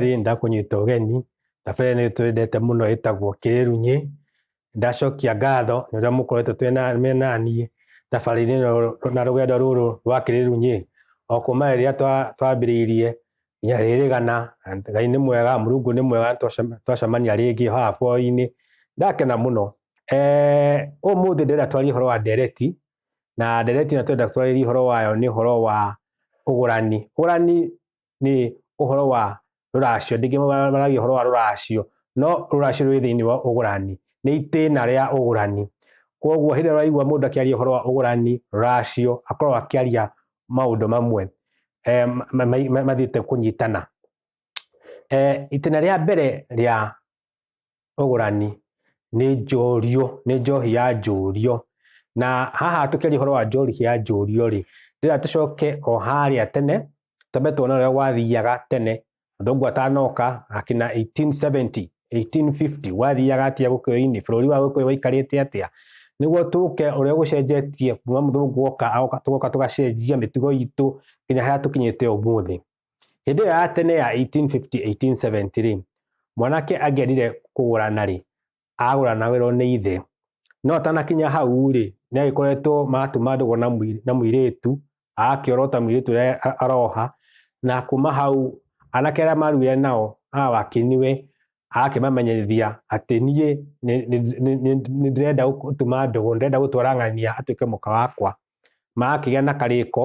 rĩ ndakunyita ũgeni na bere nĩ twendete mũno ĩtagwo kĩrunyĩ ndacokia ngatho nĩ ũrĩa mũkoretwo twĩ na- me naniĩ thabarĩ-inĩ ĩno na rũgendo rũrũ rwa kĩrĩru nyĩ o kuma rĩrĩa twa- twambĩrĩirie nginya rĩrĩgana ngai nĩ mwega mũrungu nĩ mwega twacem- twacemania rĩngĩ haha bũrũri-inĩ ndakena mũno Eh, ũmũthĩ ndĩrenda twarie ũhoro wa ndereti na ndereti ĩno twenda twarĩrie ũhoro wayo nĩ ũhoro wa ũgũrani ũgũrani nĩ ũhoro wa rũracio ndĩngĩ maragia ũhoro wa rũracio no rũracio rwĩ thĩinĩ wa ũgũrani nĩ itĩna rĩa ũgũrani koguo hĩndĩ ĩrĩa ũraigua mũndũ akĩaria ũhoro wa ũgũrani rũracio akorwo akĩaria maũndũ mamwe eh, ma- ma- ma- mathiĩte kũnyitana Eh, itĩna rĩa mbere rĩa ũgũrani nĩ njũrio nĩ njohi ya njũrio na haha tũkĩaria ũhoro wa njohi ya njũrio rĩ ndĩra tũcoke o harĩa tene twambe tuone ũrĩa gwathiaga tene athũngũ atanoka akina 1870 1850 wathiaga atia gũkũyũ-inĩ bũrũri wa gũkũyũ waikarĩte atĩa nĩguo tũke ũrĩa gũcenjetie kuma mũthũngũ oka tũgoka tũgacenjia mĩtugo itũ nginya harĩa tũkinyĩte ũmũthĩ Hĩndĩ ĩyo ya tene ya 1850-1870-rĩ, mwanake angĩendire kũgũrana-rĩ, agũranagĩrwo nĩ ithe. No atanakinya hau-rĩ, nĩ agĩkoretwo maratuma ndũgũ na mũirĩtu, agakĩorota mũirĩtu ũrĩa aroha, na kuma hau anake arĩa marugire nao a wakiniwe agakĩmamenyithia atĩ niĩ nĩ ndĩrenda gũtuma ndũgũ, ndĩrenda gũtwara ng'ania atuĩke mũka wakwa. Magakĩgĩa na karĩko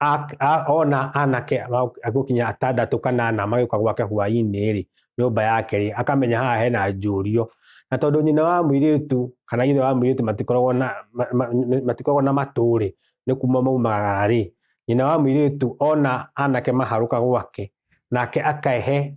a- a- ona anake agũkinya atandatũ kana ana magĩũka gwake hwainĩ-rĩ nyũmba yake-rĩ akamenya haha hena njũrio na tondũ nyina wa mũirĩtu kana ithe wa mũirĩtu matikoragwo na ma- ma- nĩ- matikoragwo na matũ-rĩ nĩ kuma maumagara-rĩ nyina wa mũirĩtu ona anake maharũka gwake nake akehe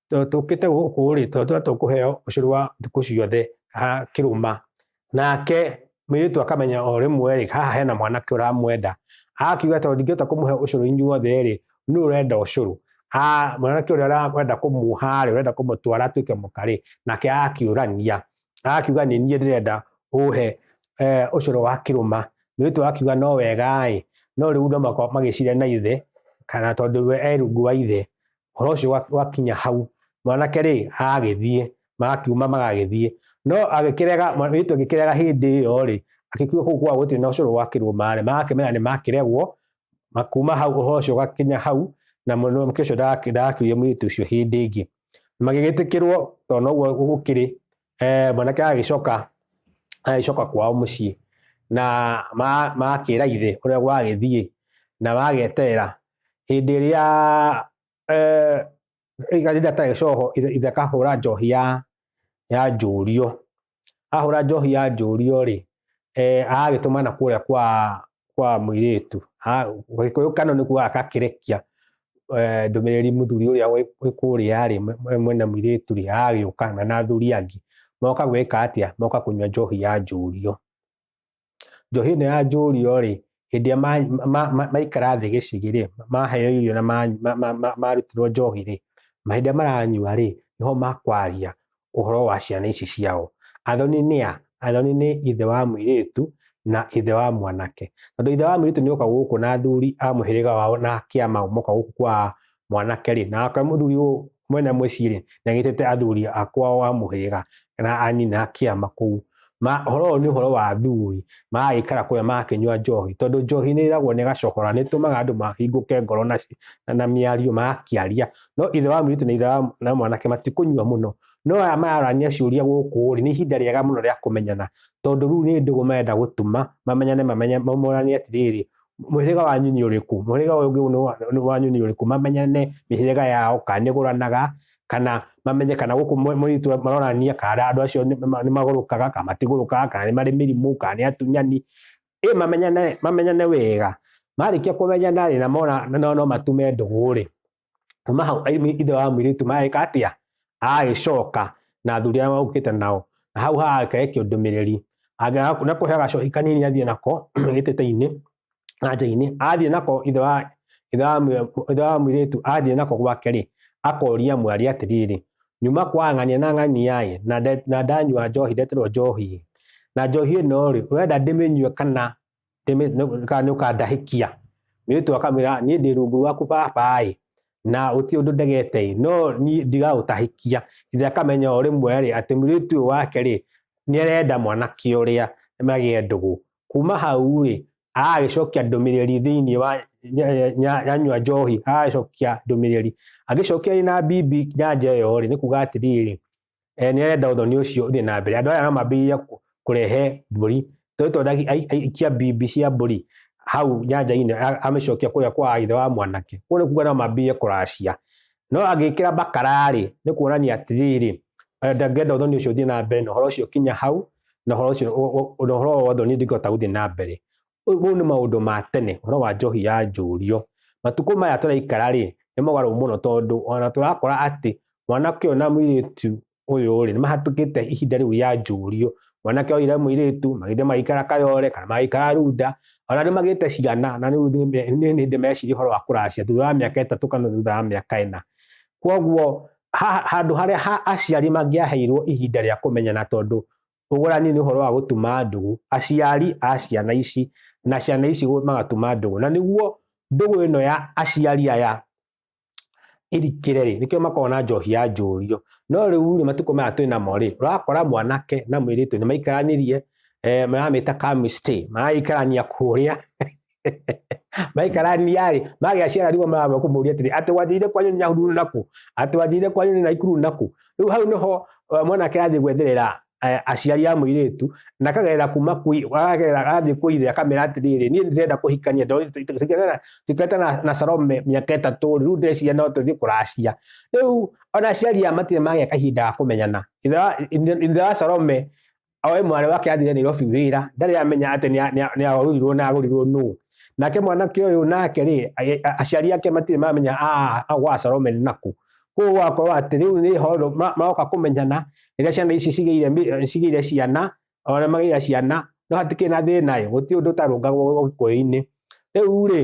tũkĩte gũkũ rĩ tondũ tũkũheo ũcũrũ wa thikũ ciothe kĩrũma nake mũirĩtu akamenya o rĩmwe rĩ haha hena mwanake ũramwenda akiuga tondũ ndingĩhota kũmũhe ũcũrũ inyuothe rĩ nũ ũrenda ũcũrũ mwanake ũrĩa ũrenda kũmuha rĩ ũrenda kũmũtwara atuĩke mũka rĩ nake akiũrania akiuga nĩ niĩ ndĩrenda ũhe eh, ũcũrũ wa kĩrũma mũirĩtu akiuga no wega ĩ no rĩu no magĩcire na ithe kana tondũ we erungu wa ithe horo ũcio wa- wakinya hau mwanake rĩ agagĩthiĩ magakiuma magagĩthiĩ no agĩkĩrega mwanake agĩkĩrega hĩndĩ ĩyo rĩ agĩkiuga kũu kwa gũtirĩ na ũcũrũ gwakĩrwo maarĩ magakĩmenya nĩ makĩregwo makuma hau ũhoro ũcio ũgakinya hau na mwanake ũcio ndagakĩ- ndagakiuria mũirĩtu ũcio hĩndĩ ĩngĩ magĩgĩtĩkĩrwo tondũ noguo gũkĩrĩ eh, mwanake agĩcoka agĩcoka kwao mũciĩ na ma- magakĩra ithe ũrĩa gwagĩthiĩ na mageterera hĩndĩ ĩrĩa eh, rĩrĩa atarĩ coho ithe ithe akahũra njohi ya ya njũrio ahũra njohi ya njũrio rĩ eh, agagĩtũmana kũrĩa kwa kwa mũirĩtu gĩkũyũ kano nĩ kuga agakĩrekia eh, ndũmĩrĩri mũthuri ũrĩa wĩ kũrĩa rĩ mwena mũirĩtu rĩ agagĩũka na na athuri angĩ moka gwĩka atĩa moka kũnyua njohi ya njũrio njohi ĩno ya njũrio rĩ hĩndĩ ĩrĩa ma- ma- ma- ma- maikara thĩ gĩcigĩ-rĩ maheo irio na ma- ma- ma- ma- marutirwo njohi-rĩ ma- hĩndĩ ĩrĩa maranyua-rĩ nĩho makwaria ũhoro wa ciana ici ciao athoni nĩ a athoni nĩ ithe wa mũirĩtu na ithe wa mwanake tondũ ithe wa mũirĩtu nĩoka gũkũ na athuri a mũhĩrĩga wao na akĩama moka gũkũ kwa mwanake rĩ nake mũthuri ũyũ mwene mũciĩ rĩ nĩagĩtĩte athuri akwao a mũhĩrĩga na anyina kĩama kũu ma horo ũyũ nĩ ũhoro wa athuri magagĩikara kũrĩa magakĩnyua njohi tondũ njohi nĩ ĩragwo nĩ gacohora nĩ ĩtũmaga andũ mahingũke ngoro na, na, na mĩario magakĩaria no ithe wa mũirĩtu na ithe wa na mwanake matikũnyua mũno no aya mararania ciũria gũkũ rĩ nĩ ihinda rĩega mũno rĩa kũmenyana tondũ rĩu nĩ ndũgũ marenda gũtuma mamenyane mamenye mamoranie atĩrĩrĩ mũhĩrĩga wanyu nĩ ũrĩkũ mũhĩrĩga ũyũ ũngĩ nĩ wa- nĩ wanyu nĩ ũrĩkũ mamenyane mĩhĩrĩga yao kana nĩgũranaga kana mamenye kana gũkũ mwe- mũritũ maronania kana andũ acio nĩ- nĩ- nĩmagũrũkaga kana matigũrũkaga kana nĩ marĩ mĩrimũ kana nĩ atunyani ĩ mamenyane mamenyane wega marĩkia kũmenyana rĩ na mona no no matume ndũgũ rĩ kuma hau aimi- ithe wa mũirĩtu magĩka atĩa agagĩcoka na athuri arĩa maũkĩte nao na hau hagake kĩũndũmĩrĩri Angĩaga- na kũhe gacohi kanini athiĩ nako gĩtĩte-inĩ na nja-inĩ athiĩ nako ithe wa ithe wa mũ- ithe wa mũirĩtu athiĩ nako gwake rĩ akoria mwarĩ atĩrĩrĩ nyuma kwa ng'ania na ng'ania-ĩ na nde- na ndanyua njohi ndeterwo njohi na njohi ĩno rĩ ũrenda ndĩmĩnyue kana kana nĩ ũkandahĩkia mwĩrĩtu akamwĩra niĩ ndĩ rungu rwaku baba ĩ na ũti ũndũ ndegete ĩ no niĩ ndigaũtahĩkia ithe akamenya o rĩmwe rĩ atĩ mwĩrĩtu ũyũ wake rĩ nĩ arenda mwanake ũrĩa magĩe ndũgũ kuma hau rĩ agagĩcokia ndũmĩrĩri thĩinĩ wa yanyua njohi agagĩcokia ndũmĩrĩri agĩcokia na bibi nyanja ĩyo rĩ nĩ kuga atĩrĩrĩ eh, nĩ arenda ũthoni ũcio ũthiĩ na mbere andũ aya no mambĩrĩria kũrehe mbũri twetwo aikia mbibi cia mbũri hau nyanja-inĩ amĩcokia kũrĩa kwa ithe wa mwanake kũu nĩ kuga no mambĩrĩrie kũracia no agĩkĩra bakararĩ nĩ kuonania atĩrĩrĩ eh, ndangĩenda ũthoni ũcio ũthiĩ na mbere na ũhoro ũcio kinya hau na ũhoro ũcio na ũhoro wa ũthoni ndingĩhota gũthiĩ na mbere ũguo nĩ maũndũ ma tene ũhoro wa njohi ya njũrio matukũ maya tũraikara rĩ nĩ mogarũ mũno tondũ ona tũrakora atĩ mwanake ũyũ na mũirĩtu ũyũ rĩ nĩ mahatũkĩte ihinda rĩu rĩa njũrio mwanake oire mũirĩtu magĩthiĩ magĩikara kayore kana magĩikara runda ona nĩ magĩte ciana na rĩu nĩ hĩndĩ meciria ũhoro wa kũracia thutha wa mĩaka ĩtatũ kana thutha wa mĩaka ĩna kwoguo handũ harĩa aciari mangĩaheirwo ihinda rĩa kũmenyana tondũ ũgũrani nĩ ũhoro wa gũtuma ndũgũ, aciari a ciana ici na ciana ici magatuma ndũgũ, na nĩguo ndũgũ ĩno ya aciari aya irikĩre rĩ nĩkĩo makoragwo na njohi ya njũrio no rĩu rĩ matukũ maya twĩ namo rĩ ũrakora mwanake na mũirĩtu nĩ maikaranirie eh, maramĩta chemistry maraikarania kũrĩa maikaraniarĩ magĩa ciara rigwa mama kũmũria atĩrĩ atĩ wathiire kwanyu nĩ nyahururu nakũ atĩ wathiire kwanyu nĩ naikuru nakũ rĩu hau nĩho eh, mwanake athiĩ gwetherera eh, aciari a mũirĩtu na akagerera kuma kwĩ- akagerera athiĩ kwĩ ithe akamera atĩrĩrĩ niĩ ndĩrenda kũhikania ndona- tũ- tũ- tũikare- tũikarĩte na- na Salome mĩaka ĩtatũ rĩ, rĩu ndĩreciria no tũthiĩ kũracia rĩu ona aciari aya matirĩ magĩa kahinda ga kũmenyana ithe wa- ithe- ithe wa Salome oe mwarĩ wake athire Nairobi wĩra ndarĩ amenya atĩ nĩa- nĩa- nĩagũrirwo na agũrirwo nũ nake mwanake ũyũ nake rĩ a- a- aciari ake matirĩ mamenya "Ah, ah, gwa Salome nĩ naku koguo wakorwo atĩ rĩu nĩ horo ma- maroka kũmenyana rĩrĩa ciana ici cigĩire mĩ- cigĩire ciana ona magĩire ciana no hatikĩrĩ na thĩna ĩ gũtirĩ ũndũ ũtarũngagwo ũgĩkũyũ-inĩ rĩu rĩ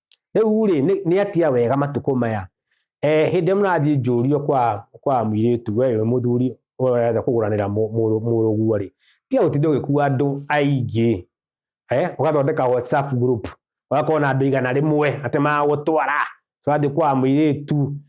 rĩu rĩ nĩ- nĩ atia wega matukũ maya eh, hĩndĩ mũrathiĩ njũrio kwa kwa mũirĩtu we wĩ mũthuri ũrenda kũgũranĩra mũ- mũrũ- mũrũguo rĩ tiga gũtinda ũgĩkua andũ aingĩ eh, ũgathondeka whatsapp group ũgakorwo na andũ igana rĩmwe atĩ magũtwara ũrathiĩ kwa mũirĩtu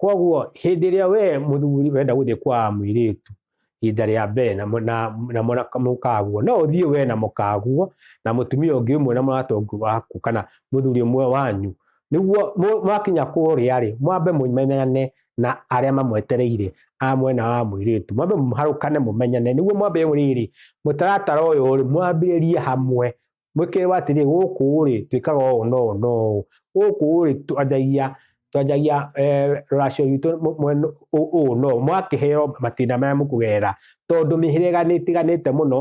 koguo hĩndĩ ĩrĩa we mũthuri wenda gũthiĩ kwa mũirĩtu ihinda rĩa mbere na mũ- na- na mũra- mũkaguo no ũthiĩ we na mũkaguo na mũtumia ũngĩ ũmwe na mũratongu waku kana mũthuri ũmwe wanyu nĩguo mũ- mwakinya kũrĩa rĩ mwambe mũmenyane na arĩa mamwetereire a mwena wa mũirĩtu mwambe mũharũkane mũmenyane nĩguo mwambe rĩrĩ mũtaratara ũyũ rĩ mwambĩrĩrie hamwe mwĩkĩrĩrwo atĩrĩ gũkũ rĩ twĩkaga ũũ no ũũ no ũũ gũkũ rĩ twanjagia twanjagia eh, rũracio rwitũ mũ- mwena ũũ ũũ no ũũ. mwakĩheo matina maya mũkũgerera tondũ mĩhĩrĩga nĩ ĩtiganĩte mũno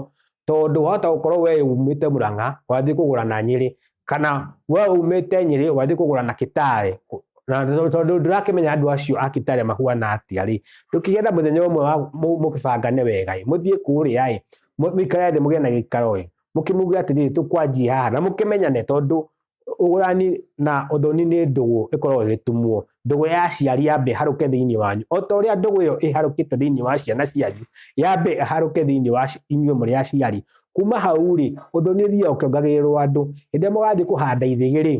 tondũ wahota gũkorwo we umĩte mũrang'a wathiĩ kũgũra na nyĩrĩ kana we umĩte nyĩrĩ wathiĩ kũgũra na kitare na tondũ- tondũ ndũrakĩmenya andũ acio a kitare mahuana atĩa rĩ ndũkĩgĩa na mũthenya ũmwe wa- mũ- mũkĩbangane wega ĩ, mũthiĩ kũrĩa ĩ mũ- mũikare thĩ mũgĩe na gĩikaro ĩ mũkĩmuge atĩrĩrĩ tũkwanjie haha na mũkĩmenyane tondũ ũgũrani na ũthoni nĩ ndũgũ ĩkoragwo ĩgĩtumwo ndũgũ ya ciari yambe harũke thĩinĩ wanyu o ta ũrĩa ndũgũ ĩyo ĩharũkĩte thĩinĩ wa ciana cianyu yambe harũke thĩinĩ wa inyuĩ mũrĩ aciari kuma hau rĩ ũthoni ũthiaga ũkĩongagĩrĩrwo andũ hĩndĩ mũgathiĩ kũhanda ithĩgĩ rĩ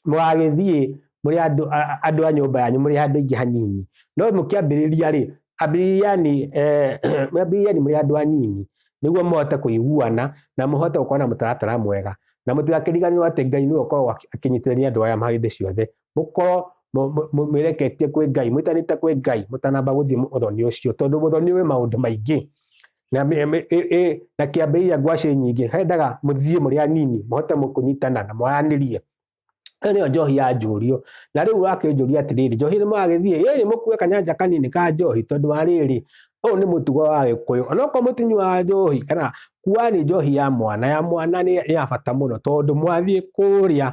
mũgagĩthiĩ mũrĩ andũ andũ a nyũmba yanyu mũrĩ andũ aingĩ hanini no mũkĩambĩrĩria rĩ ambĩrĩriani eh, ambĩrĩriani mũrĩ andũ anini nĩguo mũhote kũiguana na mũhote gũkorwo na mũtaratara mwega na mũtigakĩriganĩrwo atĩ ngai nĩwe ũkoragwo akĩnyitithania andũ aya hĩndĩ ciothe mũkorwo mwĩreketie kwĩ ngai mwĩtanĩte kwĩ ngai mũtanamba gũthiĩ ũthoni ũcio tondũ ũthoni wĩ maũndũ maingĩ na me- me- ĩ- ĩ- na kĩambĩrĩria ngwacĩ nyingĩ hendaga mũthiĩ mũrĩ anini mũhote mũkũnyitana na mwaranĩrie ĩyo nĩyo njohi ya njũrio na rĩu akĩnjũria atĩrĩrĩ njohi nĩ magĩthiĩ ĩrĩ mũkue kanyanja kanini ka njohi tondũ wa rĩrĩ ũyũ nĩ mũtugo wa gĩkũyũ onokorwo mũtinyuaga njohi kana kuani njohi ya mwana ya mwana nĩ ya bata mũno tondũ mwathiĩ kũrĩa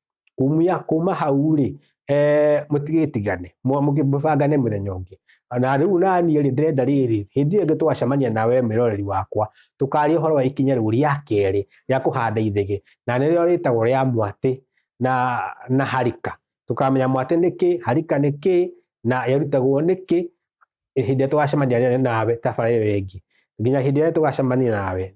kumia kuma hau rĩ eh, mũtigĩtigane mwa- mũkĩ- mũbangane mũthenya ũngĩ na rĩu naniĩ rĩ ndĩrenda rĩrĩ hĩndĩ ĩyo ĩngĩ twacemania nawe mwĩroreri wakwa tũkaria ũhoro wa ikinya rĩu rĩa kerĩ rĩa kũhanda ithege na nĩrĩo rĩtagwo rĩa mwatĩ na, na harika tũkamenya mwatĩ nĩ kĩ harika nĩ kĩ na yarutagwo nĩ kĩ hĩndĩ ĩrĩa tũgacemania rĩrĩ nawe tabarĩra ĩyo ĩngĩ nginya hĩndĩ ĩrĩa tũgacemania nawe